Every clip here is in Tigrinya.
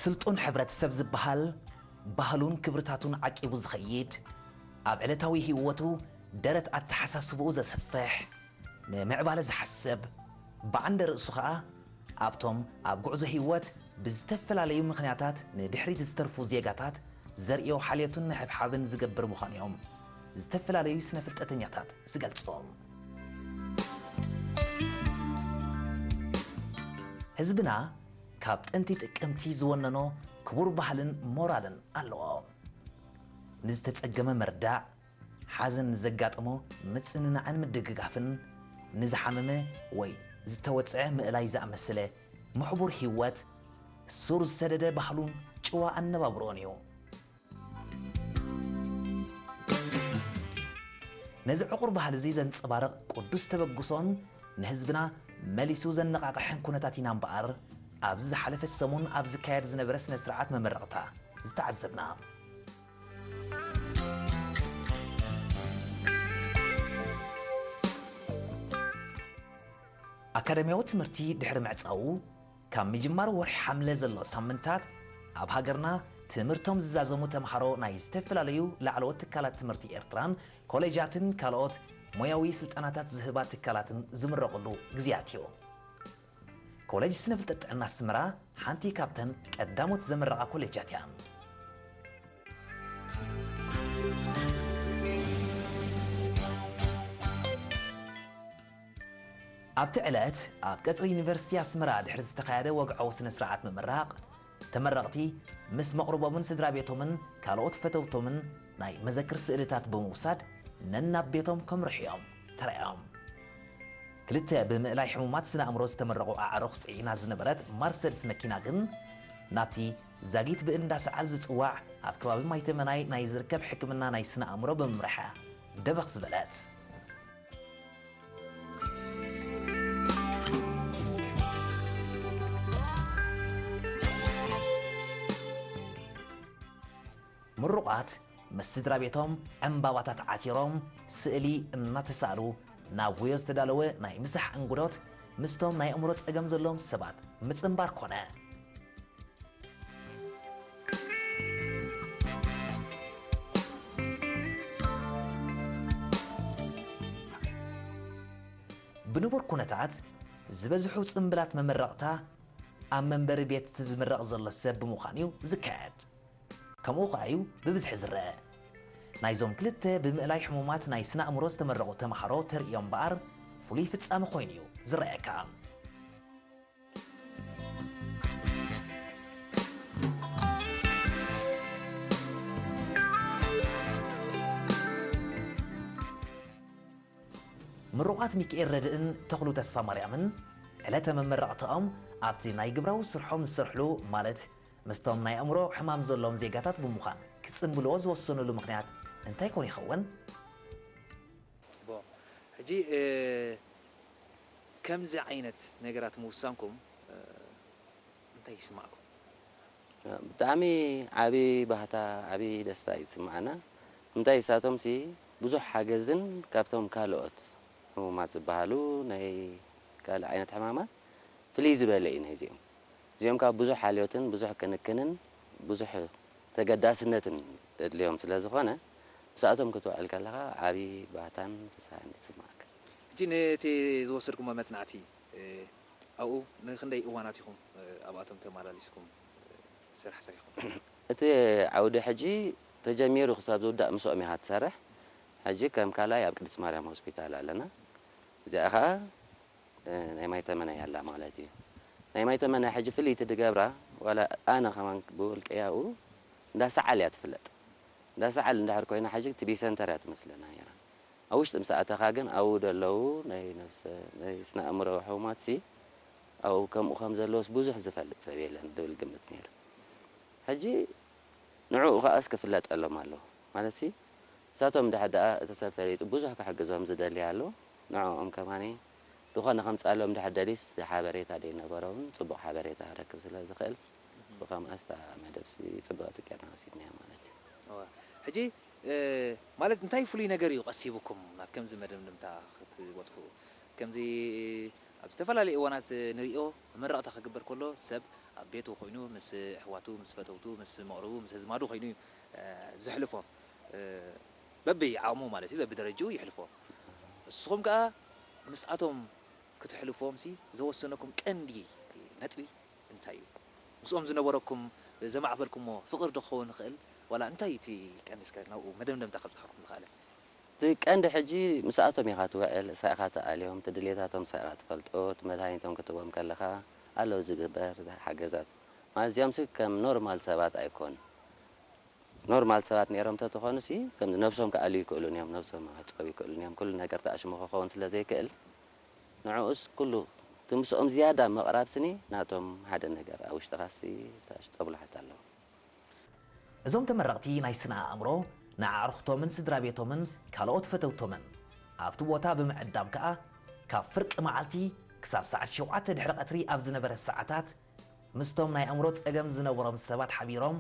ስልጡን ሕብረተሰብ ዝበሃል ባህሉን ክብርታቱን ዓቂቡ ዝኸይድ፣ ኣብ ዕለታዊ ህይወቱ ደረት ኣተሓሳስባኡ ዘስፍሕ፣ ንምዕባለ ዝሓስብ፣ ብዓንደ ርእሱ ከኣ ኣብቶም ኣብ ጉዕዞ ህይወት ብዝተፈላለዩ ምኽንያታት ንድሕሪት ዝተርፉ ዜጋታት ዘርእዮ ሓልዮትን ምሕብሓብን ዝገብር ምዃኑ'ዮም ዝተፈላለዩ ስነ-ፍልጠተኛታት ዝገልጹ። ህዝብና ካብ ጥንቲ ጥቅምቲ ዝወነኖ ክቡር ባህልን ሞራልን ኣለዎ። ንዝተጸገመ ምርዳእ፣ ሓዘን ንዘጋጠሞ ምጽንናዕን ምድግጋፍን፣ ንዝሓመመ ወይ ዝተወጽዐ ምእላይ ዝኣመሰለ ምሕቡር ህይወት ሱር ዝሰደደ ባህሉን ጭዋ ኣነባብርኡን እዩ። ነዚ ዕቑር ባህሊ'ዚ ዘንጸባርቕ ቅዱስ ተበግሶን ንህዝብና መሊሱ ዘነቓቕሕን ኩነታት ኢና እምበኣር ኣብዚ ዝሓለፈ ሰሙን ኣብ ዝካየድ ዝነበረ ስነ ስርዓት መመረቕታ ዝተዓዘብና። ኣካዳሚያዊ ትምህርቲ ድሕሪ ምዕጻዉ፣ ካብ ምጅማር ወርሒ ሓምለ ዘሎ ሳምንታት ኣብ ሃገርና ትምህርቶም ዝዛዘሙ ተምሃሮ ናይ ዝተፈላለዩ ላዕለዎት ትካላት ትምህርቲ ኤርትራን ኮሌጃትን ካልኦት ሞያዊ ስልጠናታት ዝህባ ትካላትን ዝምረቑሉ ግዜያት እዩ። ኮሌጅ ስነ ፍልጠት ጥዕና ኣስመራ ሓንቲ ካብተን ቀዳሞት ዘምረቓ ኮሌጃት እያ። ኣብቲ ዕለት ኣብ ቀፅሪ ዩኒቨርሲቲ ኣስመራ ድሕሪ ዝተኻየደ ወግዓዊ ስነ ስርዓት ምምራቕ፣ ተመረቕቲ ምስ መቕርቦምን ስድራ ቤቶምን ካልኦት ፈተውቶምን ናይ መዘክር ስእልታት ብምውሳድ ነናብ ቤቶም ከምርሑ እዮም ተራእዮም። ክልተ ብምእላይ ሕሙማት ስነ ኣእምሮ ዝተመረቑ ኣዕሩኽ ፅዒና ዝነበረት ማርሰድስ መኪና ግን ናብቲ ዛጊት ብእል እንዳ ሰዓል ዝፅዋዕ ኣብ ከባቢ ማይተመናይ ናይ ዝርከብ ሕክምና ናይ ስነ ኣእምሮ ብምምራሓ ደበኽ ዝበለት። ምሩቓት ምስ ስድራ ቤቶም ዕምባባታት ዓቲሮም ስእሊ እናተሳእሉ ናብ ወዮ ዝተዳለወ ናይ ምሳሕ እንግዶት ምስቶም ናይ ኣእምሮ ጸገም ዘለዎም ሰባት ምጽንባር ኮነ። ብንቡር ኩነታት ዝበዝሑ ጽምብላት መመረቕታ ኣብ መንበሪ ቤት እቲ ዝምረቕ ዘሎ ሰብ ብምዃን እዩ ዝካየድ። ከምኡ ከኣ እዩ ብብዝሒ ዝረኣ። ናይዞም ክልተ ብምእላይ ሕሙማት ናይ ስነ-ኣእምሮ ዝተመረቑ ተመሃሮ ተርእዮ እምበኣር ፍሉይ ፍጻመ ኮይኑ እዩ ዝረኣየካ። ምሩቓት ሚኪኤል ረድእን ተኽሉ ተስፋማርያምን ዕለተ መመረቕታኦም ኣብቲ ናይ ግብራዊ ስርሖም ዝሰርሕሉ ማለት ምስቶም ናይ ኣእምሮ ሕማም ዘለዎም ዜጋታት ብምዃን ክጽንብልዎ ዝወሰንሉ ምኽንያት እንታይ ኮን ይኸውን? ጽቡቕ ሕጂ ከምዚ ዓይነት ነገራት ምውሳንኩም እንታይ ይስማዕኩም? ብጣዕሚ ዓቢ ባህታ ዓቢ ደስታ እዩ ዝስማዓና እንታይ ንሳቶም ሲ ብዙሕ ሓገዝን ካብቶም ካሎኦት ሕሙማት ዝባሃሉ ናይ ካልእ ዓይነት ሕማማት ፍልይ ዝበለ እዩ ናይ እዚኦም እዚኦም ካኣ ብዙሕ ሓልዮትን ብዙሕ ክንክንን ብዙሕ ተገዳስነትን ዘድልዮም ስለ ዝኮነ ምስኣቶም ክትውዕል ከለካ ዓቢ ባህታን ፍስሃን ይስማዓካ። ሕጂ ነቲ ዝወሰድኩሞ መጽናዕቲ ኣብኡ ንኽንደይ እዋናት ኢኹም ኣብኣቶም ተማላሊስኩም ስራሕ ሰሪሕኩም? እቲ ዓውዲ ሕጂ ተጀሚሩ ክሳብ ዝውዳእ ምስኦም ኢኻ ትሰርሕ። ሕጂ ከም ካልኣይ ኣብ ቅድስት ማርያም ሆስፒታል ኣለና። እዚኣ ከኣ ናይ ማይተመናይ ኣላ ማለት እዩ። ናይ ማይተመናይ ሕጂ ፍልይቲ ዝገብራ ዋላ ኣነ ከማን ብውልቀይ ኣብኡ እንዳ ሰዓል እያ ትፍለጥ። እንዳ ሰዓል እንድሕር ኮይና ሕጂ ቲቢ ሰንተር እያ ትመስለና ነይራ። ኣብ ውሽጢ ምስ ኣተኻ ግን ኣብኡ ደለዉ ናይ ነብሰ ናይ ስነኣእምሮዊ ሕሙማትሲ ኣብኡ ከምኡ ከም ዘለዉስ ብዙሕ ዝፈልጥ ሰብ የለን ድብል ግምት ነይሩ ሕጂ ንዕኡ ከኣስ ክፍለጠሎም ኣለዎ ማለትሲ ንሳቶም እንድሕር ደኣ እቲ ሰብ ፈሊጡ ብዙሕ ክሕግዞም ዝደሊ ኣሎ ንዕኦም ከማኒ ዝኾነ ከምጻሎም እንድሕር ደልዩስ እቲ ሓበሬታ ደይነበሮውን ጽቡቕ ሓበሬታ ክረክብ ስለ ዝኽእል ብከምኣስ እታ መደብሲ ጽብቕቲ ጌርና ወሲድናያ ማለት እዩ። ሕጂ ማለት እንታይ ፍሉይ ነገር እዩ ቀሲቡኩም ናብ ከምዚ መደምደምታ ክትበጽሑ? ከምዚ ኣብ ዝተፈላለየ እዋናት ንርእዮ፣ መመረቕታ ክግበር ከሎ ሰብ ኣብ ቤቱ ኮይኑ ምስ ኣሕዋቱ፣ ምስ ፈተውቱ፣ ምስ መቕርቡ፣ ምስ ኣዝማዱ ኮይኑ እዩ ዘሕልፎ። በብዓቕሙ ማለት እዩ፣ በብደረጅኡ የሕልፎ። ንስኹም ከኣ ምስኣቶም ክትሕልፉዎምሲ ዘወሰነኩም ቀንዲ ነጥቢ እንታይ እዩ ምስኦም ዝነበረኩም ዘማዕበልኩሞ ፍቅሪ ዶ ክኸውን ይኽእል ዋላ እንታይ እዩ እቲ ቀንዲ እስከ ናብኡ መደምደምታ ከብጽሓኩም ዝኽኣለ። እቲ ቀንዲ ሕጂ ምስኣቶም ኢኻ ትውዕል ስረ ኢኻ ትኣልዮም እቲ ድልየታቶም ስረ ኢኻ ትፈልጦ እቲ መድሃኒቶም ክትቦም ከለኻ ኣሎ ዝግበር ሓገዛት ማለት እዚኦምሲ ከም ኖርማል ሰባት ኣይኮኑ ኖርማል ሰባት ኔሮም ተትኾኑሲ ከምዚ ነብሶም ክኣልዩ ኣይክእሉን እዮም ነብሶም ክዕጸዉ ኣይክእሉን እዮም ኩሉ ነገር ተኣሽሙ ክኸውን ስለ ዘይክእል ንዕኡስ ኩሉ እቲ ምስኦም ዝያዳ ምቕራብ ስኒ ናቶም ሓደ ነገር ኣብ ውሽጥኻሲ ታሽ ጦብላሕታ ኣለዎ እም። እዞም ተመረቕቲ ናይ ስነ ኣእምሮ ንኣዕሩኽቶምን ስድራቤቶምን ካልኦት ፈተውቶምን ኣብቲ ቦታ ብምዕዳም ከኣ ካብ ፍርቂ መዓልቲ ክሳብ ሰዓት ሸውዓተ ድሕሪ ቀትሪ ኣብ ዝነበረ ሰዓታት ምስቶም ናይ ኣእምሮ ጸገም ዝነበሮም ሰባት ሓቢሮም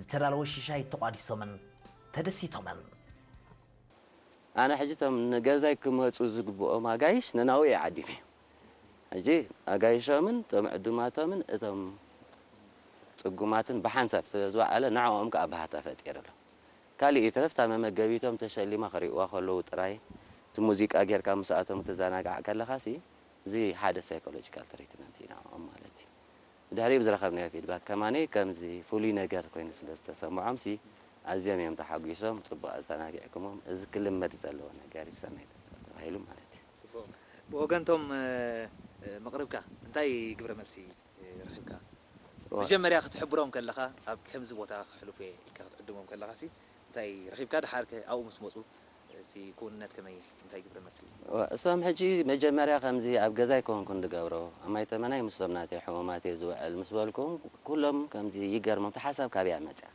ዝተዳለወ ሽሻይ ተቋዲሶምን ተደሲቶምን ኣነ ሕጂ እቶም ንገዛይ ክመጹ ዝግብኦም ኣጋይሽ ነናውኡ እየ ዓዲመ። ሕጂ ኣጋይሾምን እቶም ዕዱማቶምን እቶም ጽጉማትን ብሓንሳብ ስለ ዝወዓለ ንዕኦም ከኣ ባህታ ፈጢርሎም። ካልእ ይትረፍ እታ መመገቢቶም ተሸሊማ ክርእይዋ ከለዉ ጥራይ እቲ ሙዚቃ ጌርካ ምስኣቶም ክትዘናጋዕ ከለኻሲ እዚ ሓደ ሳይኮሎጂካል ትሪትመንት እዩ ንዕኦም ማለት እዩ። ድሕሪኡ ብዝረኸብናዮ ፊድባክ ከማኒ ከምዚ ፍሉይ ነገር ኮይኑ ስለ ዝተሰምዖምሲ ኣዝዮም እዮም ተሓጒሶም ጽቡቕ ኣዘናጊዕኩሞም እዚ ክልመድ ዘለዎ ነገር እዩ ሰናይ ተግባር ተባሂሉ ማለት እዩ። ጽቡቕ ብወገን እቶም መቕርብካ እንታይ ግብረ መልሲ ረኺብካ? መጀመርያ ክትሕብሮም ከለኻ ኣብ ከምዚ ቦታ ከሕልፉ እየ ኢልካ ክትዕድሞም ከለኻሲ እንታይ ረኺብካ ደሓርከ ኣብኡ ምስ መጹ እቲ ክውንነት ከመይ እዩ? እንታይ ግብረ መልሲ እዩ? እሶም ሕጂ መጀመርያ ከምዚ ኣብ ገዛይ ኮንኩ ድገብሮ ኣብ ማይ ተመናይ ምስቶም ናተይ ሕሙማት እየ ዝውዕል ምስ በልኩም ኩሎም ከምዚ ይገርሞም እታ ሓሳብ ካበይ እያ መጽያ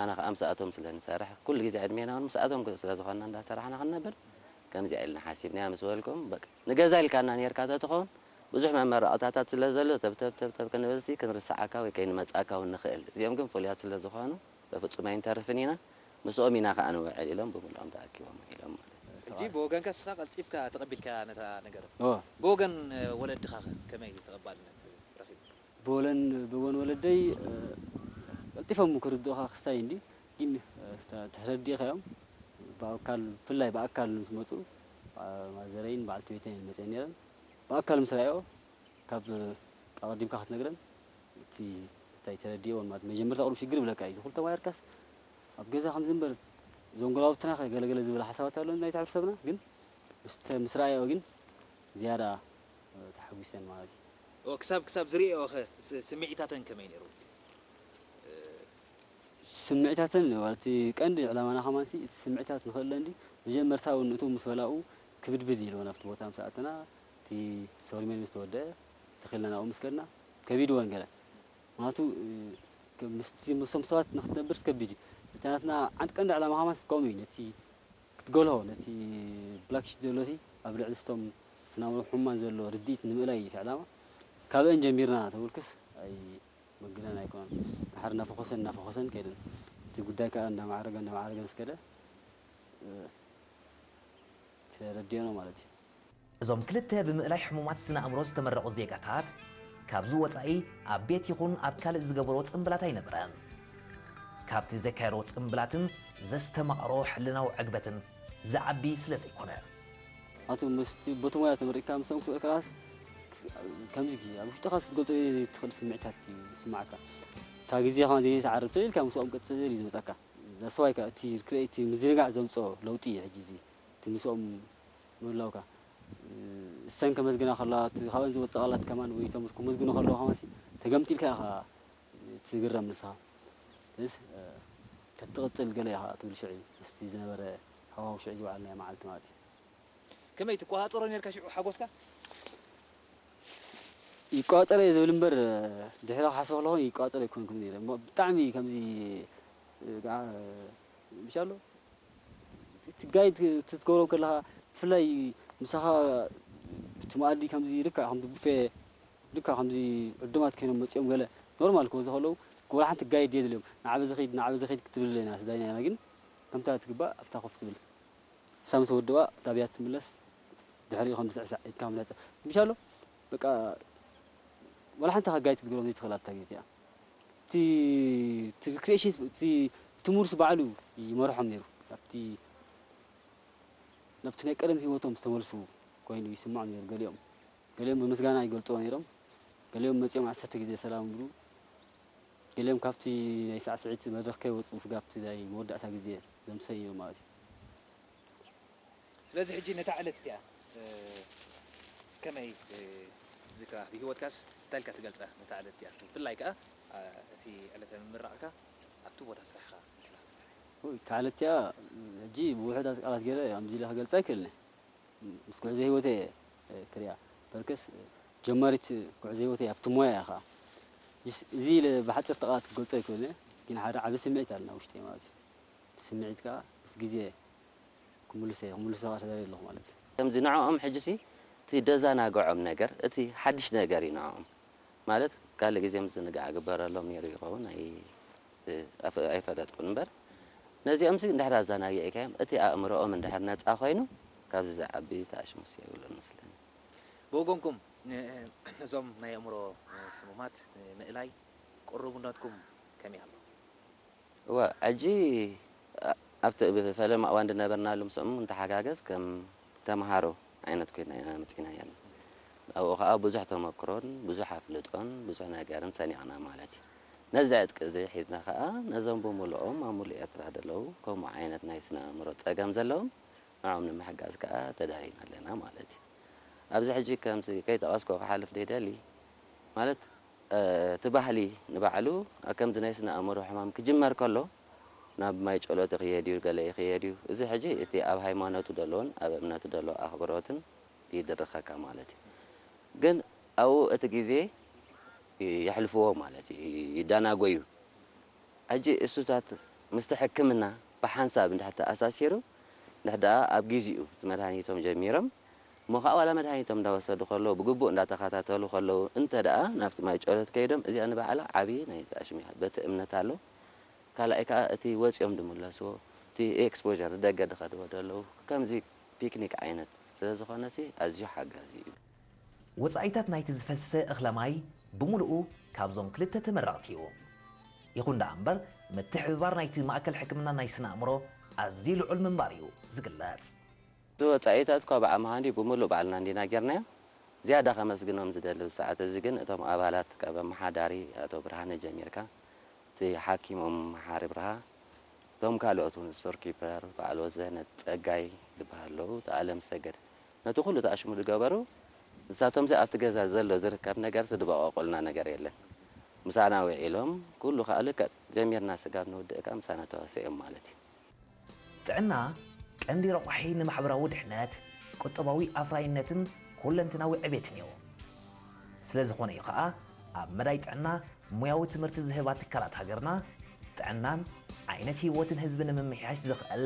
ኣነ ከኣ ምሳኣቶም ስለ ንሰርሕ ኩሉ ግዜ ዕድሜና ውን ምሳኣቶም ስለ ዝኾንና እንዳ ሰራሕና ክንነብር ከምዚኣ ኢልና ሓሲብናያ ምስ በልኩም በቃ ንገዛ ኢልካና ኔርካ ተትኾን ብዙሕ መመረቕታታት ስለ ዘሎ ተብተብተብተብ ክንብልሲ ክንርስዓካ ወይ ከይንመጽኣካ ውን ንኽእል እዚኦም ግን ፍሉያት ስለ ዝኾኑ በፍጹም ኣይንተርፍን ኢና ምስኦም ኢና ከኣ ንውዕል ኢሎም ብምልኦም ተኣኪቦም ውዒሎም ማለት እዩ። ሕጂ ብወገንካ ንስኻ ቀልጢፍካ ተቐቢልካያ ነታ ነገር። ብወገን ወለድኻኸ ከመይ እዩ ተቐባልነት ረኺቡ? ብወገን ወለደይ ቀልጢፎም ክርድኡኻ ክስታይ እንዲ ግን ተረዲእካዮም ብኣካል ብፍላይ ብኣካል ምስ መጹ ማዘረይን በዓልቲ ቤተይን መጺኤን ነይረን ብኣካል ምስ ረኣይኦ ካብ ኣቐዲምካ ክትነግረን እቲ እንታይ ተረዲእወን ማለት መጀመርታ ቁሩብ ሽግር ይብለካ እዩ እዚ ኩሉ ተማሂርካስ ኣብ ገዛ ከምዚ እምበር እዞም ጎረባብትና ከ ገለ ገለ ዝብል ሓሳባት ኣሎ ናይቲ ሕብረተሰብና ግን ምስተ ምስ ረኣየኦ ግን ዝያዳ ተሓጒሰን ማለት እዩ። እወ ክሳብ ክሳብ ዝርእየኦ ከ ስምዒታተን ከመይ ነይሩ? ስምዒታተን እወ እቲ ቀንዲ ዕላማና ከማንሲ እቲ ስምዒታት ንክእለን ድዩ መጀመርታ እውን እቶም ምስ በላኡ ክብድብድ ኢልወን ኣብቲ ቦታ ምስ ኣተና እቲ ሰሪሞኒ ምስ ተወደኣ ተኺልና ናብኡ ምስ ከድና ከቢድወን ገለ ምክንያቱ ምስቲ ምስቶም ሰባት ንክትነብርስ ከቢድ እዩ እቲ ናትና ዓንድ ቀንዲ ዕላማ ከማንስ ከምኡ እዩ ነቲ ክትገልሆ ነቲ ብላክ ሽት ዘሎሲ ኣብ ልዕሊ ስቶም ስናዊ ሕሙማን ዘሎ ርድኢት ንምእላይ እዩ እቲ ዕላማ ካበእን ጀሚርና ተብልክስ ኣይ ምግናን ኣይኮነን ድሓር እናፈኾሰን እናፈኾሰን ከይደን እቲ ጉዳይ ከዓ እንዳማዕረገ እንዳማዕረገ ምስ ከደ ተረዲኦና ማለት እዩ እዞም ክልተ ብምእላይ ሕሙማት ስነ ኣእምሮ ዝተመረቑ ዜጋታት ካብዚ ወፃኢ ኣብ ቤት ይኹን ኣብ ካልእ ዝገበርዎ ፅምብላት ኣይነበረን። ካብቲ ዘካየድዎ ፅምብላትን ዘስተማቐሮ ሕልናዊ ዕግበትን ዝዓቢ ስለ ዘይኮነ። ኣቶ መስፍን በቲ ሞያ ተመሪቕካ ምስ ሰብኣዊ ክእለትካ ከምዚ ጊዜ ኣብ ውሽጥኻ ክትገልፆ ዘይትኽእል ስምዒታት እዩ ዝስምዓካ። እታ ጊዜ ከማን ዘይትዓርብ ፅል ኢልካ ምስኦም ቅፅል እዩ ዝመፅኣካ። That's why ከኣ እቲ ርክበ እቲ ምዝንጋዕ ዘምፅኦ ለውጢ እዩ ሕጂ እዚ። እቲ ምስኦም ምህላውካ እሰን ከመስግና ከለዋ እቲ ካብኣን ዝወጽእ ቃላት ከማን ወይ እቶም ክምስግኑ ከለዉ ከማንሲ ተገምጢልካ ኢኻ ትግረም ንስኻ ስለዚ ተትቕጽል ገለ ኢኻ ትብል ሽዑ ምስቲ ዝነበረ ሃዋሁ ሽዑ ዝወዓልናዮ መዓልቲ ማለት እዩ። ከመይ ትቆጻጸሮ ኔርካ ሽዑ ሓጎስካ? ይቆጻጸሮ እየ ዝብል እምበር ድሕሪ ክሓስቦ ከለኹ ይቆጻጸሮ ኣይኮንኩን ኔረ እሞ ብጣዕሚ ከምዚ ምሻሎ እቲ ጋይድ ክትገብሮም ከለኻ ብፍላይ ምሳኻ እቲ መኣዲ ከምዚ ልክዕ ከምዚ ቡፌ ልክዕ ከምዚ ዕዱማት ኮይኖም መጺኦም ገለ ኖርማል ክበዝሑ ከለዉ ወላ ሓንቲ ጋይድ የድልዮም ንዓ በዚ ኺድ ንዓ በዚ ኺድ ክትብል ኣለና እቲ ዳኛ ኢና ግን ከምታ ትግባእ ኣብታ ኮፍ ትብል ንሳ ምስ ወድባ እታ ብያት ትምለስ ድሕሪኡ ከም ዝስዕሳዕ ኢድካ ምነጸ ምሻሎ በቃ ወላ ሓንቲ ኢኻ ጋይድ ክትገብሮም ዘይትኽእል ኣታ ጌት እያ። እቲ ክሪኤሽንስ እቲ ትሙርስ ባዕሉ ይመርሖም ነይሩ ናብቲ ናብቲ ናይ ቀደም ህይወቶም ዝተመልሱ ኮይኑ ይስምዖም ነይሩ ገሊኦም ገሊኦም ብምስጋና ይገልጽዎ ነይሮም ገሊኦም መጺኦም ዓሰርተ ግዜ ሰላም ብሉ ገሊኦም ካብቲ ናይ ሳዕስዒት መድረኽ ከይወጽኡ ስጋብቲ ናይ መወዳእታ ግዜ ዘምሰ እዮም ማለት እዩ ስለዚ ሕጂ ነታ ዕለት እቲኣ ከመይ ትዝክራ? ብህይወትካስ እንታይ ኢልካ ትገልጻ ነታ ዕለት እቲኣ? ብፍላይ ከኣ እቲ ዕለተ ምምራቕካ ኣብቲ ቦታ ስራሕኻ እንተላ? እታ ዕለት እቲኣ ሕጂ ብውሑዳት ቃላት ገይረ ከምዚ ኢለ ክገልጻ ኣይክእልን እየ። ምስ ጉዕዞ ህይወተይ እየ ክሪኣ። በርከስ ጀማሪት ጉዕዞ ህይወተይ እያ፣ ኣብቲ ሞያ እያ ከኣ። ሕጂስ እዚ ኢለ ብሓጸርቲ ቃላት ክገልጾ ኣይክእልን እየ፣ ግን ሓደ ዓቢ ስምዒት ኣሎ ኣብ ውሽጠይ ማለት እዩ። እቲ ስምዒት ከኣ ምስ ግዜ ክምልሶ እየ ክምልሶ ከኣ ተደልየ ኣለኹ ማለት እዩ። ከምዚ ንዕኦም ሕጂሲ እቲ ደዛናግዖም ነገር እቲ ሓድሽ ነገር እዩ ንዕኦም ማለት ካልእ ግዜ ምዝንጋዕ ይግበረሎም ኔሩ ይኸውን ኣይ ኣይፈለጥኩን እምበር ነዚኦምሲ እንድሕር ኣዛናጊዕካዮም እቲ ኣእምሮኦም እንድሕር ነጻ ኮይኑ ካብዚ ዝዓቢ ተኣሽሙስ የብሉን መስለኒ። ብወገንኩም ነዞም ናይ ኣእምሮ ሕሙማት ንምእላይ ቅሩብነትኩም ከመይ ኣሎ? እወ ሕጂ ኣብቲ እብ ፈለማ እዋን ዝነበርናሉ ምስኦም ንተሓጋገዝ ከም ተምሃሮ ዓይነት ኮይና ኢና መጺእናያ ኣልና። ኣብኡ ከኣ ብዙሕ ተመክሮን ብዙሕ ኣፍልጦን ብዙሕ ነገርን ሰኒቕና ማለት እዩ። ነዚ ዕጥቂ እዚ ሒዝና ከኣ ነዞም ብምልኦም ኣብ ምሉእ ኤርትራ ዘለዉ ከምኡ ዓይነት ናይ ስነ ኣእምሮ ጸገም ዘለዎም ንዕኦም ንምሕጋዝ ከኣ ተዳሊና ኣለና ማለት እዩ። ኣብዚ ሕጂ ከምዚ ከይጠቐስኩ ክሓልፍ ዘይደሊ ማለት እቲ ባህሊ ንባዕሉ ከምዚ ናይ ስነ ኣእምሮ ሕማም ክጅመር ከሎ ናብ ማይ ጨሎት ይኽየድ እዩ ገለ ይኽየድ እዩ እዚ ሕጂ እቲ ኣብ ሃይማኖቱ ደሎን ኣብ እምነቱ ደሎ ኣኽብሮትን ይድርኸካ ማለት እዩ ግን ኣብኡ እቲ ግዜ የሕልፍዎ ማለት እዩ ይዳናጎዩ ሕጂ እሱታት ምስቲ ሕክምና ብሓንሳብ እንድሕር ተኣሳሲሩ እንድሕር ደኣ ኣብ ጊዚኡ እቲ መድሃኒቶም ጀሚሮም እሞ ኸኣ ዋላ መድሃኒቶም እንዳወሰዱ ከለዉ ብግቡእ እንዳተኸታተሉ ከለዉ እንተድኣ ናብቲ ማይ ጨሎት ከይዶም እዚኣ ንባዕላ ዓቢ ናይ ጋኣሽም እያ በቲ እምነት ኣሎ ካላኣይ ከኣ እቲ ወጽዮም ድምለስዎ እቲ ኤክስፖዠር ንደገ ድኸድዎ ደለዉ ከምዚ ፒክኒክ ዓይነት ስለ ዝኾነሲ ኣዝዩ ሓጋዚ እዩ። ወጻኢታት ናይቲ ዝፈስሰ እኽለ ማይ ብምሉኡ ካብዞም ክልተ ተመረቕቲ እዩ። ይኹን ደኣ እምበር ምትሕብባር ናይቲ ማእከል ሕክምና ናይ ስነ ኣእምሮ ኣዝዩ ልዑል ምንባር እዩ ዝግለጽ። እቲ ወጻኢታት እኳ ብዓቕሚ ሃልዩ ብምሉእ ባዕልና እንዲና ጌርናዮ። ዝያዳ ከመስግኖም ዝደሊ ኣብዚ ሰዓት እዚ ግን እቶም ኣባላት ካብ ኣመሓዳሪ ኣቶ ብርሃነ ጀሚርካ እቲ ሓኪም ኡም መሓሪ ብርሃ እቶም ካልኦት ውን ስቶር ኪፐር በዓል ወዘነ ጸጋይ ዝበሃሉ ኣለዉ እቲ ኣለም ሰገድ ነቲ ኩሉ ተኣሽሙ ዝገበሩ ንሳቶምሲ ኣብቲ ገዛ ዘሎ ዝርከብ ነገርሲ ድበቐቑልና ነገር የለን ምሳና ዊዒሎም ኩሉ ከኣ ልክዕ ጀሚርና ስጋብ ንውድእካ ምሳና ተዋሲኦም ማለት እዩ። ጥዕና ቀንዲ ረቋሒ ንማሕበራዊ ድሕነት፣ ቁጠባዊ ኣፍራይነትን ኩለንትናዊ ዕቤትን'ዩ። ስለዝኾነ'ዩ ከኣ ኣብ መዳይ ጥዕና ሞያዊ ትምህርቲ ዝህባ ትካላት ሃገርና፣ ጥዕናን ዓይነት ህይወትን ህዝቢ ንምምሕያሽ ዘኽእል፣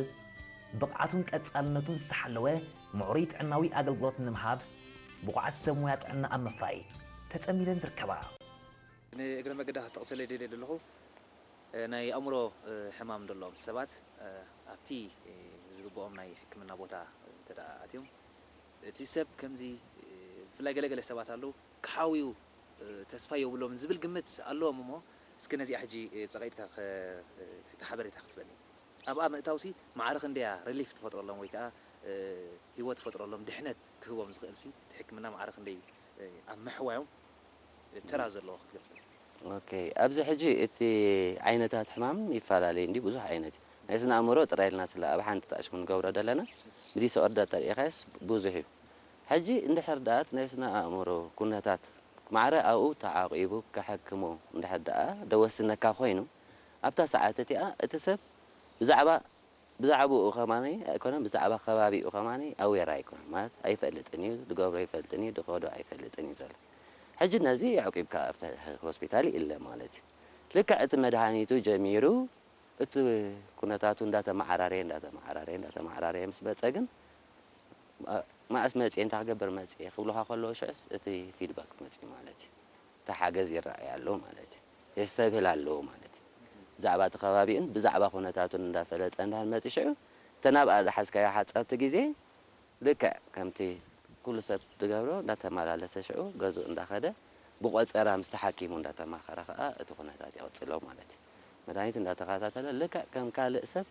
ብቕዓቱን ቀጻልነቱን ዝተሓለወ ምዕሩይ ጥዕናዊ ኣገልግሎት ንምሃብ ብቑዓት ሰብ ሞያ ጥዕና ኣብ ምፍራይ ተጸሚደን ዝርከባ። ንእግረ መገዳ ክጠቕሰለይ ደልየ ደለኹ፣ ናይ ኣእምሮ ሕማም ዘለዎም ሰባት ኣብቲ ዝግብኦም ናይ ሕክምና ቦታ እንተድኣ ኣትዮም እቲ ሰብ ከምዚ ብፍላይ ገለ ገለ ሰባት ኣለዉ ክሓውዩ ተስፋ ዮብሎምን ዝብል ግምት ኣለዎም እሞ እስኪ ነዚኣ ሕጂ ጸቒጥካ እቲ ሓበሬታ ክትበኒ ኣብኣ ምእታውሲ ማዕረ ክንደያ ሪሊፍ ትፈጥረሎም ወይ ከኣ ሂወት ፈጥረሎም ድሕነት ክህቦም ዝኽእልሲ እቲ ሕክምና ማዕረ ክንደይ ኣብ ምሕዋዮም ተራ ዘለዎ ክትገልጸልና። ኦኬ ኣብዚ ሕጂ እቲ ዓይነታት ሕማም ይፈላለይ እንድዩ ብዙሕ ዓይነት እዩ ናይ ስነ ኣእምሮ ጥራይ ኢልና ስለ ኣብ ሓንቲ ጣእሽ ክንገብሮ ደለና ብዲስኦርደር እንተሪኢኻዮስ ብዙሕ እዩ ሕጂ እንድሕር ደኣ እቲ ናይ ስነ ኣእምሮ ኩነታት ማዕረ ኣብኡ ተዓቂቡ ከሐክሞ እንድሕር ደኣ ደወስነካ ኮይኑ ኣብታ ሰዓት እቲኣ እቲ ሰብ ብዛዕባ ብዛዕብኡ ከማን ኣይኮነን ብዛዕባ ከባቢኡ ከማን ኣዌር ኣይኮነን ማለት ኣይፈልጥን እዩ ድገብሮ ኣይፈልጥን እዩ ድከዶ ኣይፈልጥን እዩ ዘሎ ሕጂ ነዚ ኣዕቂብካ ኣብቲ ሆስፒታል ይእለ ማለት እዩ ልክዕ እቲ መድሃኒቱ ጀሚሩ እቲ ኩነታቱ እንዳተማዓራረየ እንዳተማዓራረየ እንዳተማዓራረየ ምስ መጸ ግን መኣስ መጽየ እንታይ ክገብር መጽየ ክብሉካ ከለዉ ሽዑስ እቲ ፊድባክ መጽዩ ማለት እዩ። እቲ ሓገዝ ይረኣይ ኣሎ ማለት እዩ። የስተብህል ኣለዎ ማለት እዩ። ብዛዕባ እቲ ከባቢኡን ብዛዕባ ኩነታቱን እንዳፈለጠ እንድሕር መጺኡ ሽዑ እተን ኣብኣ ዝሓዝካዮ ሓጸርቲ ግዜ ልክዕ ከምቲ ኩሉ ሰብ ዝገብሮ እንዳተመላለሰ ሽዑ ገዝኡ እንዳኸደ ብቆጸራ ምስቲ ሓኪሙ እንዳተማኸረ ከኣ እቲ ኩነታት ይቕጽሎ ማለት እዩ። መድሃኒት እንዳተኸታተለ ልክዕ ከም ካልእ ሰብ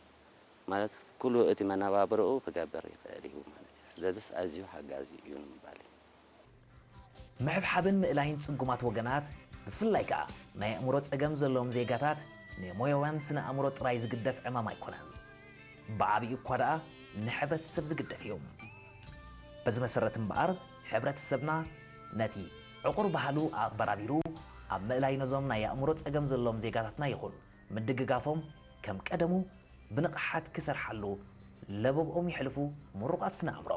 ማለት ኩሉ እቲ መነባብሮኡ ክገብር ይኽእል እዩ ማለት እዩ። ስለዚስ ኣዝዩ ሓጋዚ እዩ ንምባል እዩ። ምሕብሓብን ምእላይን ጽጉማት ወገናት ብፍላይ ከኣ ናይ ኣእምሮ ጸገም ዘለዎም ዜጋታት ንሞያውያን ስነ ኣእምሮ ጥራይ ዝግደፍ ዕማም ኣይኮነን። ብዓቢኡ እኳ ደኣ ንሕብረተሰብ ዝግደፍ እዩ። በዚ መሰረት እምበኣር ሕብረተሰብና ነቲ ዕቑር ባህሉ ኣቕበራቢሩ ኣብ ምእላይ ነዞም ናይ ኣእምሮ ጸገም ዘለዎም ዜጋታትና ይኹን ምድግጋፎም ከም ቀደሙ ብንቕሓት ክሰርሓሉ ለበብኦም የሕልፉ ምሩቓት ስነ ኣእምሮ።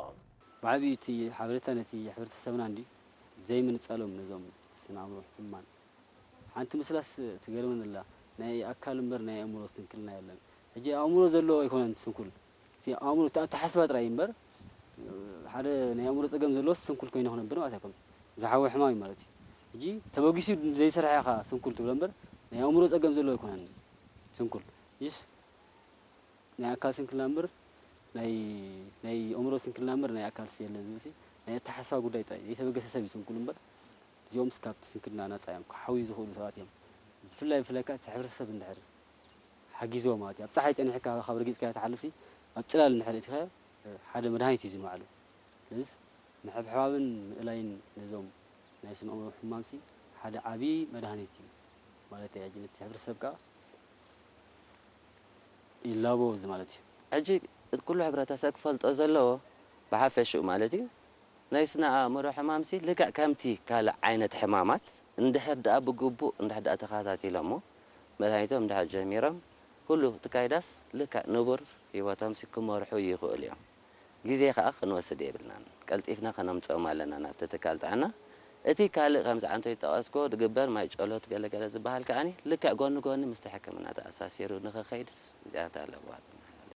ብዓቢኡ እቲ ሓበሬታ ነቲ ሕብረተሰብና እንድዩ ዘይምንጻሎም ነዞም ስነ ኣእምሮ ሕሙማን። ሓንቲ ምስላስ ትገርመኒ ኣላ ናይ ኣካል እምበር ናይ ኣእምሮ ስንክልና የለን ሕጂ ኣእምሮ ዘለዎ ኣይኮነን ስንኩል እቲ ኣእምሮ እቲ ኣተሓስባ ጥራይ እዩ እምበር ሓደ ናይ ኣእምሮ ጸገም ዘለዎስ ስንኩል ኮይኑ ክነብር ማለት ኣይኮነን ዝሓወ ሕማም እዩ ማለት እዩ ሕጂ ተበጊሱ ዘይሰርሐ ኢኻ ስንኩል ትብሎ እምበር ናይ ኣእምሮ ጸገም ዘለዎ ኣይኮነን ስንኩል ሕጂስ ናይ ኣካል ስንክልና እምበር ናይ ናይ ኣእምሮ ስንክልና እምበር ናይ ኣካልሲ የለን ዝብልሲ ናይ ኣተሓሳስባ ጉዳይ ጥራይ ዘይተበገሰ ሰብ እዩ ስንኩል እምበር እዚኦምስ ካብቲ ስንክልና ናጻ እዮም ክሓውዩ ዝኽእሉ ሰባት እዮም ብፍላይ ብፍላይ ከኣ እቲ ሕብረተሰብ እንድሕር ሓጊዝዎ ማለት እዩ ኣብ ጸሓይ ጸኒሕካ ካብ ረጊጽካዮ ትሓልፍሲ ኣብ ጽላል እንድሕር እቲኻዮ ሓደ መድሃኒት እዩ ዝንባዕሉ ስለዚ ምሕብሕባብን ምእላይን ነዞም ናይ ስነ ኣእምሮ ሕሙማንሲ ሓደ ዓቢ መድሃኒት እዩ ማለተይ ኣጂ ነቲ ሕብረተሰብ ከኣ ይላበው እዚ ማለት እዩ። ሕጂ እቲ ኩሉ ሕብረተሰብ ክፈልጦ ዘለዎ ብሓፈሽኡ ማለት እዩ ናይ ስነ ኣእምሮ ሕማምሲ ልክዕ ከምቲ ካልእ ዓይነት ሕማማት እንድሕር ድኣ ብግቡእ እንድሕር ድኣ ተኸታቲሎሞ መድሃኒቶም እንድሕር ጀሚሮም ኩሉ እቲ ካይዳስ ልክዕ ንቡር ህይወቶምሲ ክመርሑ ይኽእሉ እዮም። ግዜ ከኣ ክንወስድ የብልናን ቀልጢፍና ከነምጽኦም ኣለና ናብቲ ትካል ጥዕና እቲ ካልእ ከምዚ ዓንተይ ዝጠቐስክዎ ዝግበር ማይ ጨሎት ገለ ገለ ዝብሃል ከኣ ልክዕ ጎኒ ጎኒ ምስቲ ሕክምና ተኣሳሲሩ ንኽከይድ ስግኣት ኣለዋ ትመሓላለፍ